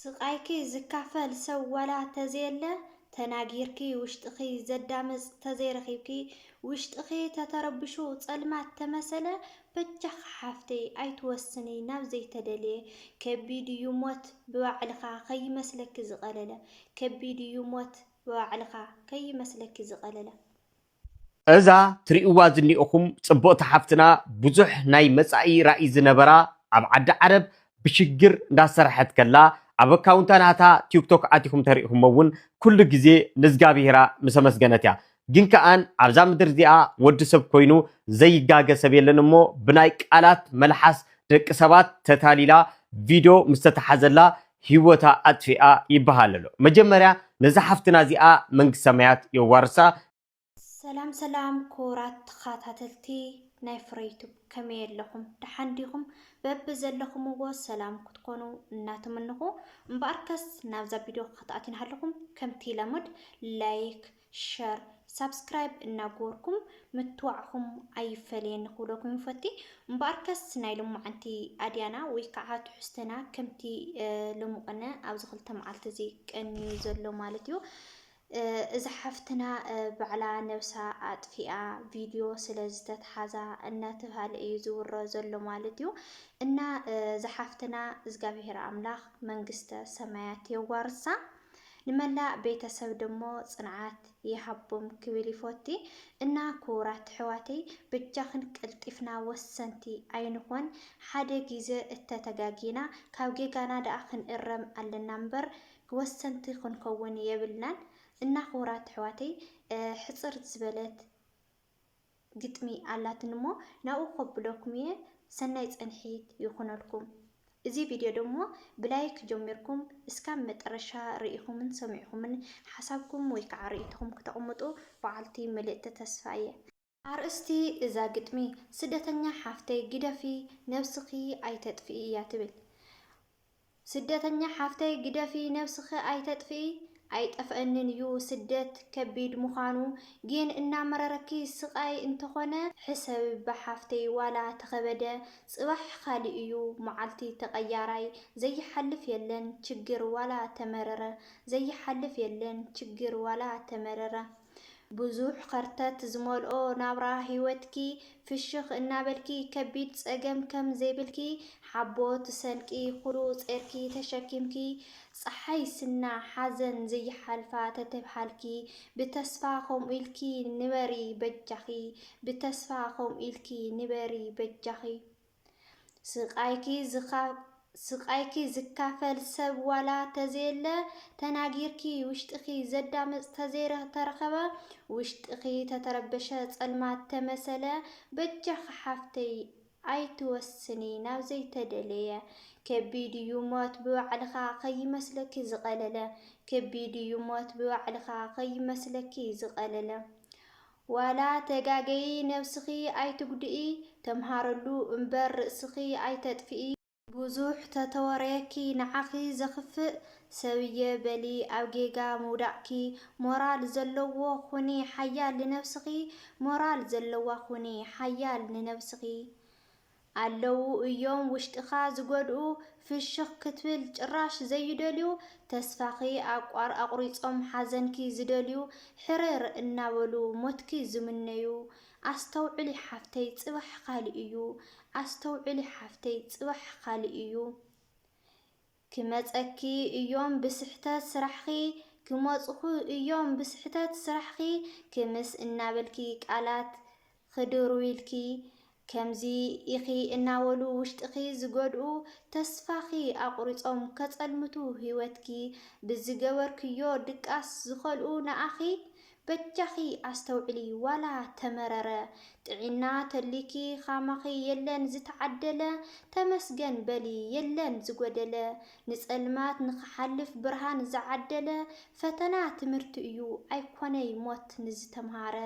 ስቃይኪ ዝካፈል ሰብ ዋላ ተዘየለ ተናጊርኪ ውሽጥኺ ዘዳምፅ ተዘይረኺብኪ ውሽጥኺ ተተረብሹ ፀልማት ተመሰለ በጃኺ ሓፍተይ ኣይትወስኒ ናብ ዘይተደልየ ከቢድ እዩ ሞት ብባዕልኻ ከይመስለኪ ዝቀለለ ከቢድ እዩ ሞት ብባዕልኻ ከይመስለኪ ዝቀለለ። እዛ ትሪኡዋ ዝኒኦኹም ፅብቕቲ ሓፍትና ብዙሕ ናይ መፃኢ ራኢ ዝነበራ ኣብ ዓዲ ዓረብ ብሽግር እንዳሰርሐት ከላ ኣብ ኣካውንታ ናታ ቲክቶክ ኣቲኹም ተሪኢኹሞ እውን ኩሉ ግዜ ንዝጋብሄራ ምስ ኣመስገነት እያ ግን ከኣን ኣብዛ ምድር እዚኣ ወዲ ሰብ ኮይኑ ዘይጋገ ሰብ የለን እሞ ብናይ ቃላት መልሓስ ደቂ ሰባት ተታሊላ ቪድዮ ምስተታሓዘላ ሂወታ ኣጥፊኣ ይበሃል ኣሎ መጀመርያ ነዛ ሓፍትና እዚኣ መንግስት ሰማያት የዋርሳ። ሰላም ሰላም ኩቡራት ተኻታተልቲ ናይ ፍረ ዩቱብ ከመይ ኣለኹም ደሓን ዲኹም በቢ ዘለኹምዎ ሰላም ክትኮኑ እናተመነኹ እምበኣርከስ ናብዛ ቪድዮ ክትኣትዩና ሃለኹም ከምቲ ለሙድ ላይክ ሸር ሳብስክራይብ እናገበርኩም ምትዋዕኹም ኣይፈለየኒ ክብለኩም ይፈቲ። እምበኣርከስ ናይ ሎማዓንቲ ኣድያና ወይ ከዓ ትሕዝተና ከምቲ ሎምቕነ ኣብዚ ክልተ መዓልቲ እዚ ቀንዩ ዘሎ ማለት እዩ። እዛ ሓፍትና ባዕላ ነብሳ ኣጥፊኣ ቪድዮ ስለ ዝተትሓዛ እናተብሃለ እዩ ዝውረ ዘሎ ማለት እዩ እና ዝሓፍትና እግዚኣብሔር ኣምላኽ መንግስተ ሰማያት የዋርሳ። ንመላእ ቤተሰብ ደሞ ጽንዓት ይሃቦም ክብል ይፎቲ እና ኩቡራት እሕዋተይ በጃክን ቀልጢፍና ወሰንቲ ኣይንኮን ሓደ ጊዘ እተ ተጋጊና ካብ ጌጋና ደኣ ክንእረም ኣለና እምበር ወሰንቲ ክንከውን የብልናን እና ኩቡራት እሕዋተይ ሕጽር ዝበለት ግጥሚ ኣላትኒ እሞ ናብኡ ከብለኩም እየ ሰናይ ጸንሒት ይኩነልኩም እዚ ቪድዮ ደሞ ብላይክ ጀሚርኩም እስካብ መጠረሻ ሪኢኩምን ሰሚዕኩምን ሓሳብኩም ወይ ከዓ ሪኢቶኩም ክተቅምጡ በዓልቲ ምልእቲ ተስፋ እየ። ኣርእስቲ እዛ ግጥሚ ስደተኛ ሓፍተይ ግደፊ ነብስኪ ኣይተጥፍኢ እያ ትብል ስደተኛ ሓፍተይ ግደፊ ነብስኪ ኣይተጥፍኢ ኣይጠፈኣንን እዩ ስደት ከቢድ ምኳኑ ጊን እናመረረኪ ስቃይ እንተኮነ ሕሰብባ ሓፍተይ ዋላ ተከበደ ፅባሕ ካሊእ እዩ ማዓልቲ ተቀያራይ ዘይሓልፍ የለን ችግር ዋላ ተመረረ ዘይሓልፍ የለን ችግር ዋላ ተመረረ ብዙሕ ኸርተት ዝመልኦ ናብራ ህይወትኪ ፍሽኽ እናበልኪ ከቢድ ፀገም ከም ዘይብልኪ ሓቦት ሰንቂ ኹሉ ጼርኪ ተሸኪምኪ ፀሓይ ስና ሓዘን ዘይሓልፋ ተተብሃልኪ ብተስፋ ኸምኡ ኢልኪ ንበሪ በጃኺ ብተስፋ ኸምኡ ኢልኪ ንበሪ በጃኺ። ስቃይኪ ስቃይኪ ዝካፈል ሰብ ዋላ ተዘየለ ተናጊርኪ ውሽጥኺ ዘዳምፅ ተዘይተረኸበ ውሽጥኺ ተተረበሸ ፀልማት ተመሰለ በጃኺ ሓፍተይ ኣይትወስኒ ናብ ዘይተደለየ ከቢድ እዩ ሞት ብባዕልኻ ከይመስለኪ ዝቐለለ ከቢድ እዩ ሞት ብባዕልኻ ከይመስለኪ ዝቐለለ ዋላ ተጋገዪ ነብስኺ ኣይትጉድኢ ተምሃረሉ እምበር ርእስኺ ኣይተጥፍኢ። ብዙሕ ተተወረየኪ ንዓኺ ዘኽፍእ ሰብ እየ በሊ ኣብ ጌጋ ምውዳቕኪ ሞራል ዘለዎ ኹኒ ሓያል ንነብስኺ ሞራል ዘለዋ ኹኒ ሓያል ንነብስኺ ኣለዉ እዮም ውሽጥኻ ዝጎድኡ ፍሽኽ ክትብል ጭራሽ ዘይደልዩ ተስፋኺ ኣቋር ኣቑሪጾም ሓዘንኪ ዝደልዩ ሕርር እናበሉ ሞትኪ ዝምነዩ ኣስተውዕሊ ሓፍተይ ጽባሕ ካልእ እዩ ኣስተውዕሊ ሓፍተይ ጽባሕ ካልእ እዩ ክመጸኪ እዮም ብስሕተት ስራሕኺ ክመጹኹ እዮም ብስሕተት ስራሕኺ ክምስ እናበልኪ ቃላት ኽድርብዩልኪ ከምዚ ኢኺ እናበሉ ውሽጥኺ ዝጎድኡ ተስፋኺ ኣቑሪጾም ከጸልምቱ ሂወትኪ ብዝገበርክዮ ድቃስ ዝኸልኡ ንኣኺ በጃኺ ኣስተውዕሊ ዋላ ተመረረ ጥዒና ተልዩኪ ኻማኺ የለን ዝተዓደለ ተመስገን በሊ የለን ዝጎደለ ንጸልማት ንኽሓልፍ ብርሃን ዝዓደለ ፈተና ትምህርቲ እዩ ኣይኮነይ ሞት ንዝተምሃረ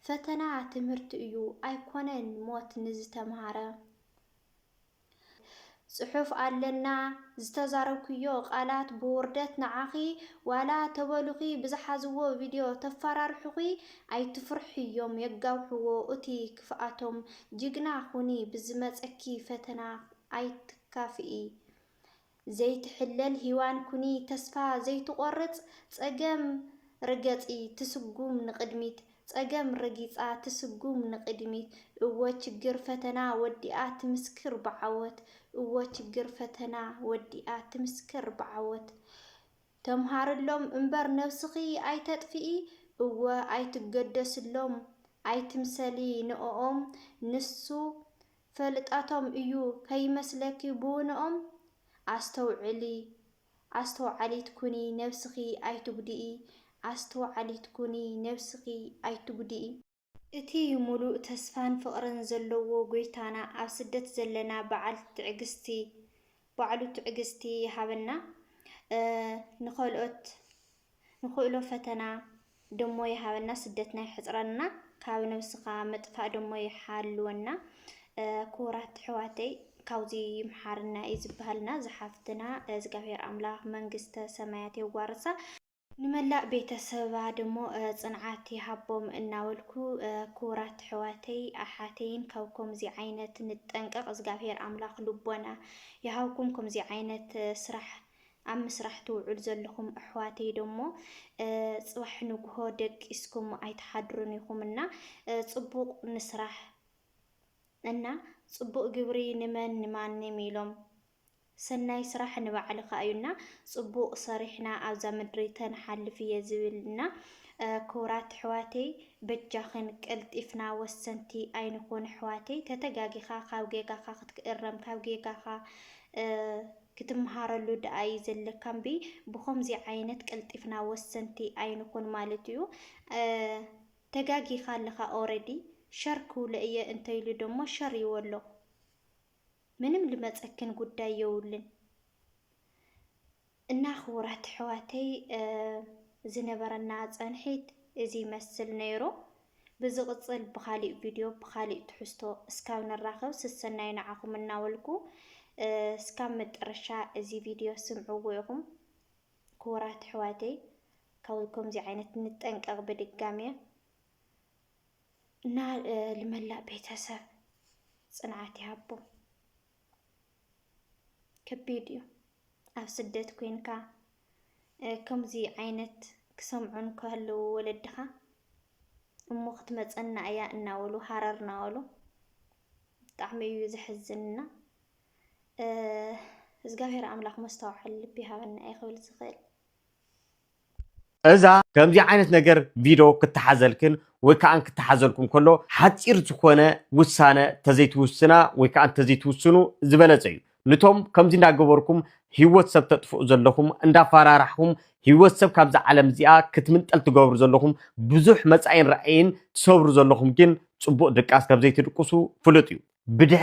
ፈተና ትምህርቲ እዩ ኣይኮነን ሞት ንዝተምሃረ። ጽሑፍ ኣለና ዝተዛረብክዮ ቃላት ብውርደት ንዓኺ ዋላ ተበሉኺ ብዝሓዝዎ ቪድዮ ተፋራርሑኺ ኣይትፍርሕዮም የጋውሕዎ እቲ ክፍኣቶም ጅግና ኹኒ ብዝመጸኪ ፈተና ኣይትካፍኢ ዘይትሕለል ሂዋን ኩኒ ተስፋ ዘይትቆርጽ ጸገም ርገጺ ትስጉም ንቅድሚት ጸገም ረጊጻ ትስጉም ንቅድሚት እወ ችግር ፈተና ወዲኣ ትምስክር ብዓወት እወ ችግር ፈተና ወዲኣ ትምስክር ብዓወት ተምሃርሎም እምበር ነብስኺ ኣይተጥፍኢ እወ ኣይትገደስሎም ኣይትምሰሊ ንኦኦም ንሱ ፈልጣቶም እዩ ከይመስለኪ ብውነኦም ኣስተውዕሊ ኣስተውዓሊት ኩኒ ነብስኪ ኣይትጉድኢ ኣስተውዓሊት ኩኒ ነብስኪ ኣይትጉድኢ። እቲ ሙሉእ ተስፋን ፍቅርን ዘለዎ ጎይታና ኣብ ስደት ዘለና በዓል ትዕግስቲ ባዕሉ ትዕግስቲ ይሃበና ንከልኦት ንክእሎ ፈተና ደሞ ይሃበና ስደትና ይሕፅረልና ካብ ነብስካ ምጥፋእ ደሞ ይሓልወና ክቡራት ኣሕዋተይ ካብዚ ይምሓርና እዩ ዝበሃልና ዝሓፍትና እግዚኣብሔር ኣምላክ መንግስተ ሰማያት የዋርሳ። ንመላእ ቤተሰባ ደሞ ጽንዓት ይሃቦም እናበልኩ ክቡራት ኣሕዋተይ ኣሓተይን ካብ ኮምዚ ዓይነት ንጠንቀቅ እዝጋብሄር ኣምላክ ልቦና ይሃብኩም ኮምዚ ዓይነት ስራሕ ኣብ ምስራሕ ትውዕሉ ዘለኩም ኣሕዋተይ ደሞ ጽባሕ ንግሆ ደቂስኩም ኣይትሓድሩን ኢኩም እና ጽቡቅ ንስራሕ እና ጽቡቅ ግብሪ ንመን ንማንም ኢሎም ሰናይ ስራሕ ንባዕልካ እዩ እና ፅቡቅ ሰሪሕና ኣብዛ ምድሪ ተንሓልፍ እየ ዝብል እና ክቡራት ኣሕዋተይ በጃክን ቀልጢፍና ወሰንቲ ኣይንኩን ኣሕዋተይ ተተጋጊካ ካብ ጌጋካ ክትእረም ካብ ጌጋካ ክትምሃረሉ ደኣ እዩ ዘለካ እምቢ ብከምዚ ዓይነት ቀልጢፍና ወሰንቲ ኣይንኩን ማለት እዩ ተጋጊካ ኣለካ ኦረዲ ሸር ክብሎ እየ እንተይሉ ደሞ ሸር ይበሎ። ምንም ልመፀክን ጉዳይ የውልን እና ክቡራት ኣሕዋተይ ዝነበረና ፀንሒት እዚ ይመስል ነይሩ። ብዝቕፅል ብኻሊእ ቪድዮ ብኻሊእ ትሕዝቶ እስካብ ንራኸብ ስሰናይ ንዓኹም እናበልኩ እስካብ መጠረሻ እዚ ቪድዮ ስምዕዎ ኢኹም ክቡራት ኣሕዋተይ ካብ ከምዚ ዓይነት ንጠንቀቕ ብድጋሜ እና ልመላእ ቤተሰብ ፅንዓት ይሃቦም። ከቢድ እዩ ኣብ ስደት ኮንካ ከምዚ ዓይነት ክሰምዑን ከህልው ወለድኻ እሞ ክትመፀና እያ እናበሉ ሃረር እናበሉ ብጣዕሚ እዩ ዘሕዝንና። እግዚኣብሔር ኣምላኽ መስተውዓሊ ልቢ ይሃበና እየ ክብል ዝኽእል። እዛ ከምዚ ዓይነት ነገር ቪዶ ክተሓዘልክን ወይ ከዓ ክተሓዘልኩም ከሎ ሓፂር ዝኾነ ውሳነ ተዘይትውስና ወይ ከዓ ተዘይትውስኑ ዝበለፀ እዩ። ንቶም ከምዚ እንዳገበርኩም ህይወት ሰብ ተጥፍኡ ዘለኹም እንዳፈራራሕኹም ህይወት ሰብ ካብዛ ዓለም እዚኣ ክትምንጠል ትገብሩ ዘለኹም ብዙሕ መጻኢን ራእይን ትሰብሩ ዘለኹም ግን ጽቡቕ ድቃስ ከም ዘይትድቅሱ ፍሉጥ እዩ ብድሕሪ